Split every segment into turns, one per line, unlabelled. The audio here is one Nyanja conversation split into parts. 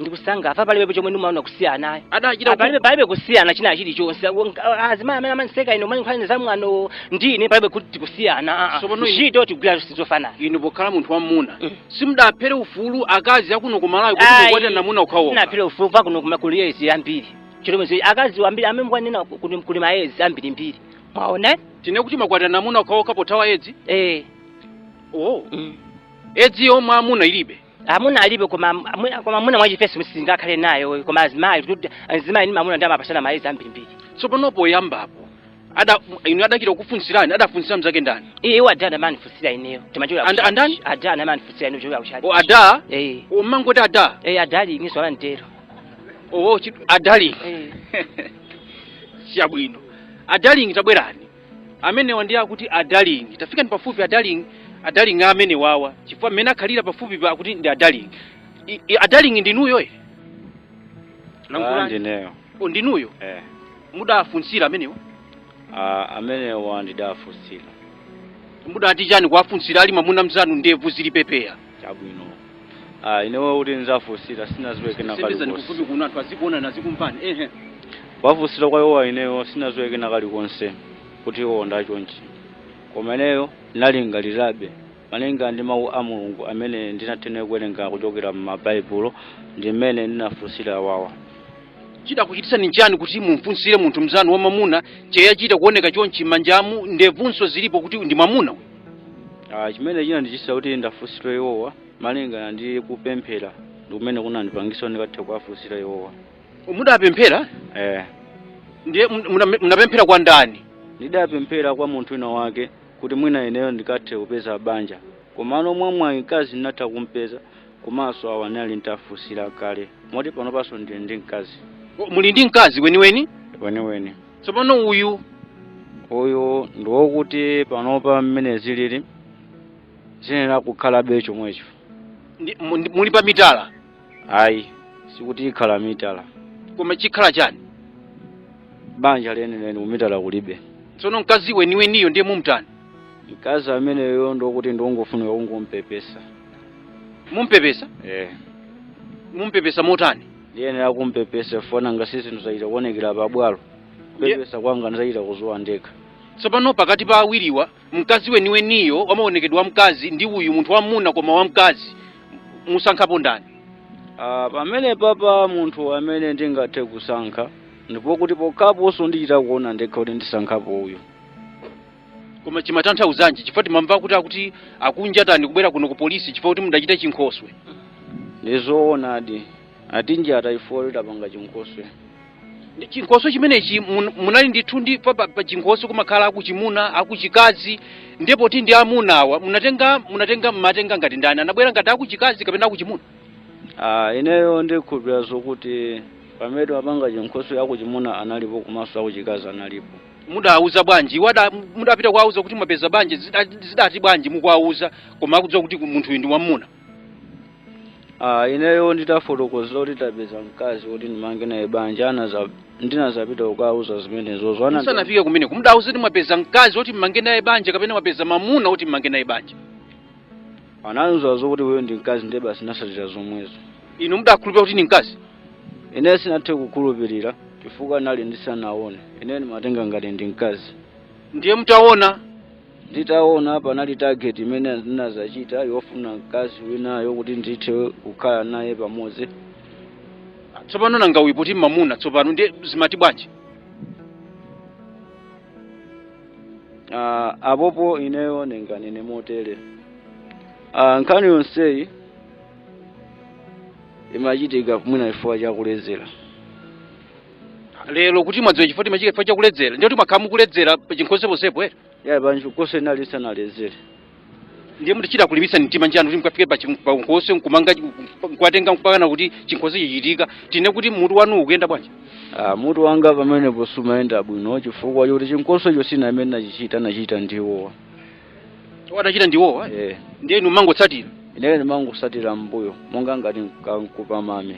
ndikusanga apa palibepo chomwe ndimaona kusiyanayo adachita palibe
palibe kusiyana
china chilichonse azimayi amene amandiseka ino mali nkhani zamwano ndine palibe kuti tikusiyana ah, ah. Tsopano inu- ntchito tikugwira zonse zofanana inu pokhala munthu
wamuna Mm. simudaphere ufulu akazi akuno ku malawi kuti Ayi, mukwatirana amuna okhaokha sinaphere ufulu pakuno
koma kuli edzi yambiri chitomezi akazi wambiri amene mukuwanena kuti kuli maedzi ambirimbiri mwaona tinene kuti
mukwatirana amuna okhaokha pothawa edzi eh oh mm. edzi yomwe amuna ilibe amuna alibe
koma mwina- koma mwina mwachifesi singakhale nayo koma azimayi kuti azimayi ndi mamuna ndi amapatsana maedzi ambirimbiri tsopano poyambapo
ada inu adachita kukufunsirani adafunsira mzake ndani iye iwo ada amandifunsira
ineyo timachokera And-
andani? ada amandifunsira
ineyo kuchokera kutchalitchi o ada
eh umangoti ada eh a darling izo la
mtero owo
a darling eh chabwino a darling tabwerani amenewa ndi akuti a darling tafikani pafupi a darling a darling amene wawa chifukwa mmene akhalira pafupipa akuti ndi a darling I- i- a darling ndinuyo e Ah,
lankhulani ndineyo o
ndinuyo eh mudafunsira amenewa
Ah, amenewa ndidafunsira
mudati chani kuwafunsira ali mwamuna mzanu ndevu zili pepeya
Chabwino. Ah, ineyo kuti nizafunsira sinaziwe kena kali sendezani kufupi konse. kuno anthu
azikuonani azikumvani ehe Kuwafunsira
kwa iwowa ineyo sinaziwe kena kalikonse kuti iwo ndi achonchi. Koma ineyo nalingalirabe malinga ndi mawu a Mulungu amene ndinathenera kuwerenga kuchokera mu Baibulo ndi mmene ndinafunsira
awawa. chidakuchititsani nchani kuti mumfunsire munthu mzanu wamamuna cheyachita kuoneka chonchi m'manjamu ndevunso zilipo kuti ndi mwamuna uyu?
Ah, chimene chinandichititsa kuti ndiwafunsire iwowa malingana ndi kupemphera ndikumene kunandipangitsa kuti ndikathe kuwafunsira iwowa mudapemphera
eh ndiye mun- muna- munapemphera kwa ndani ndidapemphera
kwa munthu wina wake kuti mwina ineyo ndikathe kupeza banja komano mwa mwayi mkazi ndinatha kumpeza komanso awa ndinali nditafunsira kale moti panopanso ndili ndi mkazi O, muli ndi mkazi
weniweni weniweni
tsopano uyu
uyu ndi wokuti
panopa mmene zilili ziyenera kukhalabe chomwecho ndi- mu- ndi-
muli pa mitala ayi
sikuti ikhala mitala koma chikhala
chani
banja lenileni kumitala kulibe tsono mkazi
weniweniyo ndiye mumtani mkazi
ameneyo ndi wokuti ndi wongofunika kungompepesa
mumpepesa eh mumpepesa motani ndiyenera
kumpepesa poona ngati zinthu zachita kuonekera pabwalo kupepesa kwanga ndizachita kudziwa ndekha tsopano pakati
pa awiriwa mkazi weniweniyo wamaonekedwe a mkazi ndi uyu munthu wamuna koma wamkazi musankhapo ndani Ah,
pamene papa munthu amene ndingathe kusankha ndipo kuti pokhaponso ndichita kuona ndekha kuti ndisankhapo uyu
koma chimatanthauzanji chifukwa timamva kuti akuti akunjatani kubwera kuno ku polisi chifukwa kuti mudachita chinkhoswe ndizoonadi
atinjata chifukwa kuti tidapanga chinkhoswe
chinkhoswe chimenechi mun- munali ndithu ndi pa- pa pa chinkhoswe kumakhala akuchimuna akuchikazi ndipo ti ndi amunawa munatenga munatenga mmatenga ngati ndani anabwera ngati akuchikazi kapena akuchimuna Ah, ineyo
ndikhulupirira zokuti pamene timapanga chinkhoswe akuchimuna analipo komanso akuchikazi analipo mudawauza
bwanji iwo ada- mudapita kuwauza kuti mwapeza banja zida- zidati bwanji mukuwauza koma akudziwa kuti munthuyu ndi mwamuna Ah, ineyo
ndidawafotokozera kuti ndapeza mkazi woti ndimange naye banja anaza ndinazapita kukawauza zimenezo zoona musanafike kumeneko
mudawauza kuti mwapeza mkazi woti mmange naye banja kapena mwapeza mamuna woti mmange naye banja
anandiuza zoti iwo ndi mkazi ndiye basi ndinatsatira zomwezo inu
mudakhulupirira kuti ndi mkazi ine
sinathe kukhulupirira chifukwa nali ndisanaone ine ndimatenga ngati ndi mkazi ndiye mutaona nditaona panali target imene ndinazachita yofuna mkazi winayo kuti ndithe kukhala naye
pamodzi tsopano nanga uyu poti mamuna tsopano ndiye zimati bwanji
Ah, apopo ineyo ndinganene motere Ah, nkhani yonseyi imachitika mwina chifukwa
chakuledzera lero kuti mwadziwa chifukwa choti imachitika chifukwa chakuledzera ndiye kuti mwakhala mukuledzera pachinkhoswe ponsepo ere yayi pachinkhoswe ndinali
ndisanaledzere
ndiye mudachita kulimbitsa mtima ndani kuti mukafike pa chim- pa chinkhoswe nkumanga nkuwatenga mpakana kuti chinkhoswe chichitika tinene kuti mutu wanu ukuyenda bwanji Ah, mutu wanga
pamenepo sumayenda bwino chifukwa choti chinkhoswe icho sindine amene ndinachichita anachita ndi
iwowa adachita ndi iwowa eh. ndiye inu mumangotsatira ineyo
ndimangotsatira mbuyo monga ngati mkankhupa mame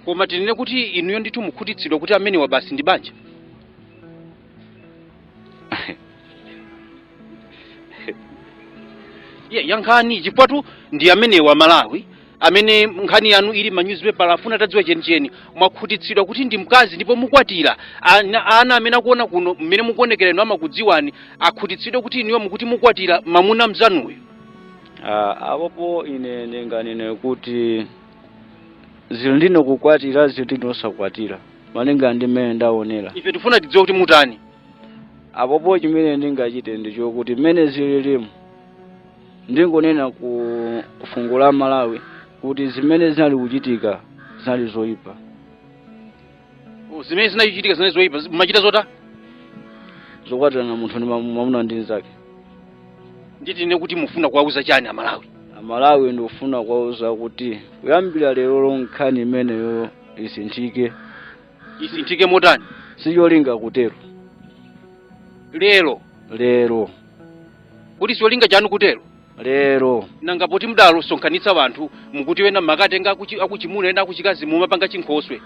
koma
tinene kuti inuyo ndithu mukhutitsidwa kuti amenewa basi ndi banja Ye, yankhani chifukwatu ndi amenewa aMalawi amene nkhani yanu ili mma newspaper afuna atadziwa chenicheni mwakhutitsidwa kuti ndi mkazi ndipo mukwatira ana, ana amene akuona kuno mmene mukuonekera inu amakudziwani akhutitsidwe kuti inuyo mukuti mukwatira mamuna mzanuyo Ah,
apopo ine ndinganene kuti zili ndine kukwatira zili ndine osakwatira malinga ndi mmene ndaonera ife tifuna tidziwe kuti
mutani apopo
chimene ndingachite ndi chokuti mmene zililimu ndingonena ku fuko la Malawi kuti zimene zinali kuchitika zinali zoyipa
Oh, zimene zinachitika zinali zoyipa zi- mumachita
zota zokwatirana munthu ndi mamu- mwamuna ndi
mnzake nditinene kuti mufuna kuwauza chani amalawi amalawi ndikufuna
kuwauza kuti kuyambira lero nkhani imeneyo
isinthike isinthike motani sicholinga kutero
lero
lero kuti sicholinga chanu kutero
lero nanga
poti mudasonkhanitsa wanthu mukuti wena munakatenga akuchi- akuchimuna ena akuchikazi mumapanga chinkhoswe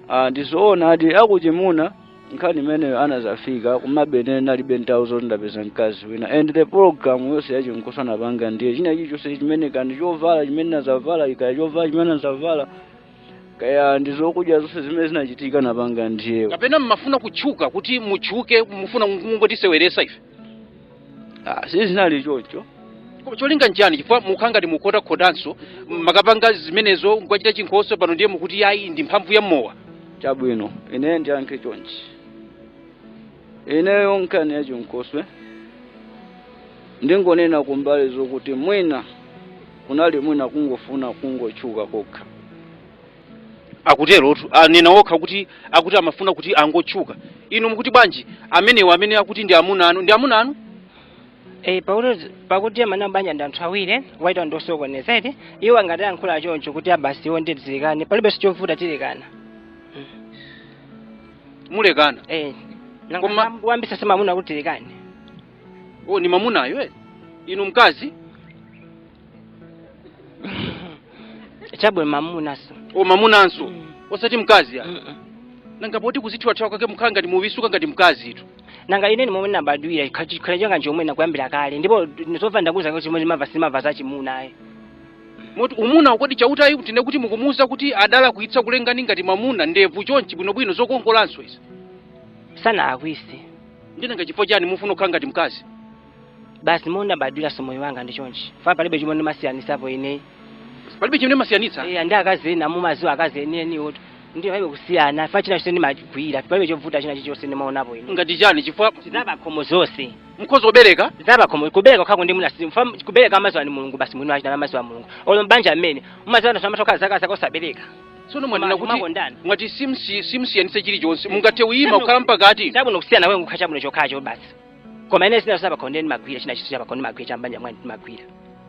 Ah, ndizoona
ati akuchimuna nkhani imeneyo anazafika kumabene nalibe nthawi zoti ndapeza mkazi wina and the program yonse yachinkhoswe napanga ndiye china chilichonse chimene kaya ndi chovala chimene nazavala ikaya chovala chimene nazavala kaya ndizokudya zonse zimene zinachitika napanga ndi iwo kapena mmafuna kutchuka
kuti mutchuke mufuna mungotiseweresa ife
Ah, sizinali choncho Koma
cholinga nchiyani chifukwa mukhala ngati mukukhotakhotanso munakapanga zimenezo nkuchita chinkhoswe pano ndiye mukuti yayi ndi mphamvu ya mowa chabwino
ine ndiyankhe chonchi ineyo nkhani ya chinkhoswe ndingonena kumbali zokuti mwina kunali mwina kungofuna kungotchuka kokha
akuterotu anena okha kuti akuti amafuna kuti angotchuka inu mukuti bwanji amenewo amene akuti ndi amuna anu ndi amuna anu Eh, pakuti
pakuti amanena banja ndi anthu awiri wachitatu ndi wosokoneza eti iwo ngati ayankhula choncho kuti a basi iwo nditilekane palibe chovuta
tilekana mulekana
eh Koma- nanga wayambitsa si mamuna kuti tilekane o
ni mamunayo eh? inu mkazi
chabwe mamunanso o
mamunanso osati mkazi ya nanga poti kuzithyolathyola kwake mukhala ngati mukuvitsuka ngati mkazitu nanga ine ndimomwe
nabadwira chikhalire changa chomwe nayambira kale ndipo zomva ndakuuzani kuti chomwe ndimava sinimava za chimuna ayi
moti mumuweruza kodi Chauta ayi kutinena kuti mukumuuza kuti adalakwitsa kulengani ngati mwamuna ndevu chonchi bwinobwino zokongolanso izi
sanalakwitse ndiye nanga chifukwa
chani mufuna kukhala ngati mkazi
basi momwe nabadwira nso moyo wanga ndi chonchi ifa palibe chomwe ndimasiyanisapo ine palibe
chimene mumasiyanitsa eya ndi akazi
ena mumaziwa akazi enieniwo ndiye palibe kusiyana fa china chilichonse ndimagwira palibe chovuta china chilichonse ndimaonapo ine ngati chani chifukwa
zabakhomo zonse
mukhoza
kubereka zabakhomo
kubereka kwake ndimuna fa kubereka amaziwa ni mulungu basi mwini wachita amaziwa mulungu olo mbanja mmene umaziwa anthu amatokhala zaka zaka osabereka tsono mwanena kuti
Makondana. mwati simsi- simsiyanitsa chilichonse mungathe uyima kukhala mpakati chabwino kusiyana wake nkukha
chabwino chokhacho basi koma ine zinthu zapakhomo ndimagwira china chilichonse chapakhomo ndimagwira chambanja mwanu ndimagwira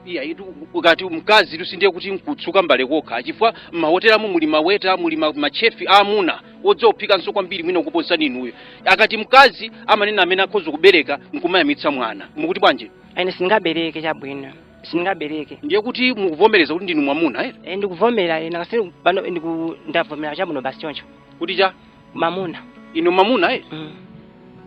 iyayitu
ukati mkazi tu sindiye kuti nkutsuka mbale kokha chifukwa m'mahotelamu muli maweta muli ma- machefi aamuna odziwa kuphikanso kwambiri mwina kuposani inuyo akati mkazi amanena amene akhoza kubereka nkumayamwitsa mwana mukuti bwanji ine
sindingabereke chabwino sindingabereke ndiye kuti
mukuvomereza kuti ndinu mwamuna eh? e, ndikuvomera ine
ngati pano ndiku ndavomera chabwino basi choncho kuti cha mamuna inu
mamuna eh? mm.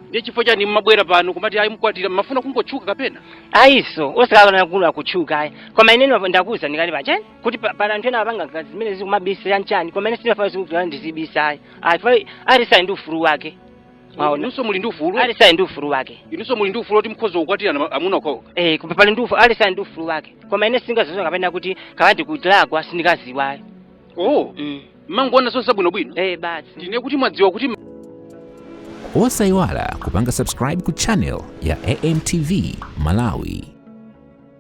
ndiye chifukwa chani mmabwera pano kumati ayi mkwatira mmafuna kungotchuka kapena ayinso osati
nkhani ya kutchuka ayi koma ine ndwa- ndakuuzani kale pachani kuti pa- pali anthu ena apanga ngati zimenezi kumabisira nchani koma ine sindinafune zoti ndizibisa ayi ayi pa aliyense ali ndi ufulu wake mwaona inunso
muli ndi ufulu aliyense ali ndi ufulu
wake inunso muli ndi ufulu oti
mukhoza kukwatirana ma- amuna okhaokha Eh, koma pali ndi ufulu aliyense
ali ndi ufulu wake koma ine sindingadziwe kapena kuti kawandi kuti ndalakwa sindikudziwa ayi oh mm.
mmangoona zonse zabwinobwino eh basi ndiye
kuti mwadziwa kuti
osayiwala kupanga subscribe ku channel ya amtv malawi